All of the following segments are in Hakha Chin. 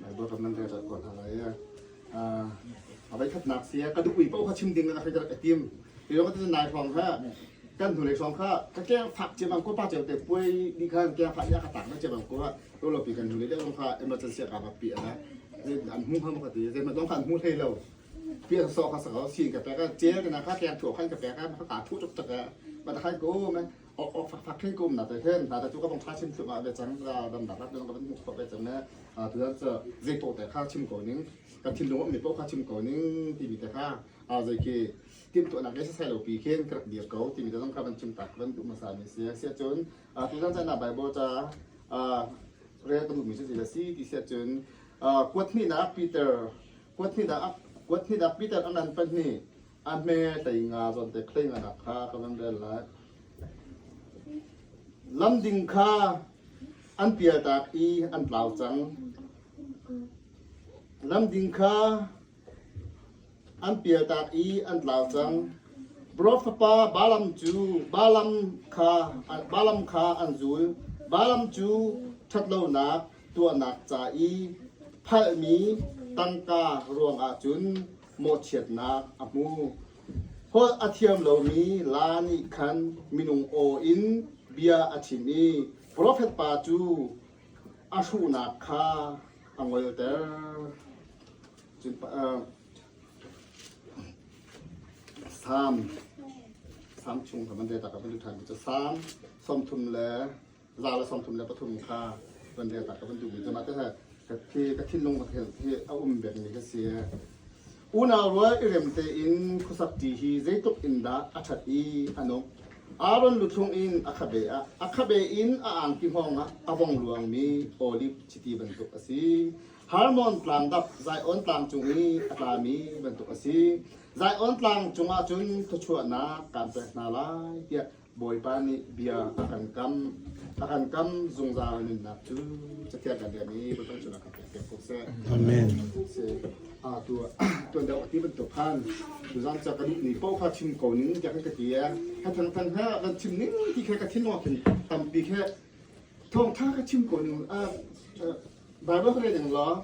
Bible recommend ka ko hna lai a vai khatnak sia ka duh paoh kha chim ding in a ka rak tim ti lawng ka nai hrawng kha kan hnulei hrawng kha ka keng fak cem ang ko pa cem te puai ni khan keng fak ya ka tak na cem ang ko to lo pi kan hnulei le lawng kha emergency ka ba pi ana an hmu kha ka ti zai lawng kha an hmu hlei lo pi an so kha sa ko sin ka pe ka che ka na kha keng thuo khan ka pe ka ka thu chuk chak ma ta khan ko me Khengkum na te hen ta tu ka bong tha chim chung ah ve cang dam da ka kan hmu fa ve cang ne tu dan cha zai to te kha chim ko ning ka thil lung mi po kha chim ko ning ti mi te kha a zai ki tim to na ke sai lo pi khen krak dir ko ti mi te zong kha ban chim tak ban du ma sa mi se se chun tu dan cha na bible cha a re ka du mi se la si ti se chun kuat ni na peter kuat ni da kuat ni da peter anan pan ni A hme hlei nga zawnte khlei nganak kha ka van rel lai. Lam ding kha an pialtak i an tlau cang. Lam ding kha an pialtak i an tlau cang. Brof fapa Balam cu Balam kha Balam kha an zul. Balam cu ṭhatlonak tuahnak ca i phalmi tangka ruangah cun mawhchiatnak a hmu. Holh a thiam lomi laa nih khan minung aw in bia a chim i profet pa cu a hruhnak kha a ngolter. Sam, Sam chung ka man de tak ka lu ṭhan mi cu Sam, som thum le za le sawm thum le pathum kha van rel ta ka van duhmi zama te hi ka thinlung hi a um bengmi ka si unau rual i rem tein khusak ṭi hi zeitluk in dah a ṭhat i a nung Aaron luthlung in a khabe ah a khabe in a angki hngawng ah a vong luangmi olif chiti bantuk a si Harmon tlang dap Zion tlang cung i a tlami bantuk a si Zion tlang cungah cun thluachuahnak kaan pek hna lai tiah Bawipa nih bia a kan kam. A kan kam zungzal nunnak cu cathiang kan rian i vawlhpang cungah kan pek ko seh. Amen. Si. Ah tu tuan deuh ti bantuk khan tuzan cha ka duh ni pau kha chim ko ning tiah kan ka ti e. Ka thang than ha van chim ning ti khe ka thin wa khin tampi khe thawng tha ka chim ko ning a Bible ka read ning law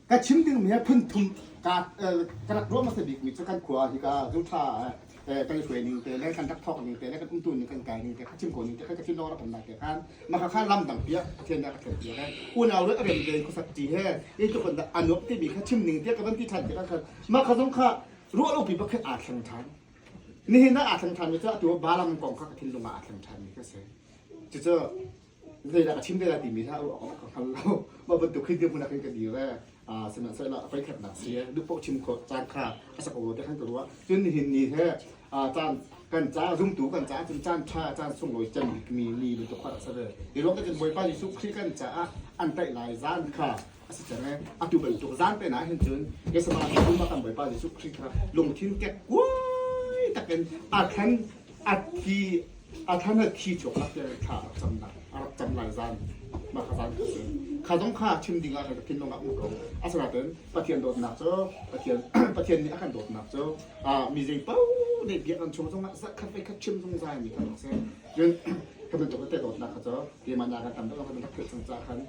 ka chim dingmi phun thum ka ka rak ruah hmasa bikmi cu kan khua ah hika zotha te kan i hruai ning te le kan rak thawk ning te le kan umtu ning kan kai ning te ka chim ko ning te ka chim lo ram lai te khan maka kha lam dang pia pathian dah ka thlen pia kai unau le rem le khosat ti he ye tu kan da anuak ti mi kha chim ning te ka van ti than te ka khan maka zong kha ruah lo pi pakhat a thlang than ni hin a thlang than mi cu atu balang kong kha ka thin lunga a thlang than mi ka se cucu zeidah ka chim te lai timi hlah ruah awk ka hngal lo. Mah bantuk khi dirhmun ah khin ka dir ve. Uh, sihmanhsehlaw a voikhatnak si eh, duh chim khawh caan kha a sak lo te khan ka ruah. Cun nihin ni he uh, caan kan ca zumtu kan ca cun caan tha caan sunglawi cem mi ni bantuk kha a sa ve. Hi lawng ka cun Bawipa Jesuh Khrih kan caah an taih lai zan kha a si cang e. Atu bantuk zan pen ah hin cun Kesabang in pumpak kan Bawipa Jesuh Khrih kha lungthin kekkuai takin a thlan a thi a thlan a thi chuak lak te thla a rak cam lai a rak cam lai zan mah kha zan kha kha zong kha chim ding ah kan thin lung ah um ko a sanaten Pathian dawtnak cu Pathian Pathian nih a kan dawtnak cu mi zei pau nei biak an chung zongah zat khat khat chim zungzal mi kan rak si cun kha bantuk te dawtnak kha cu keimah nih a kan tam deuh kan bantuk thil sang ca khan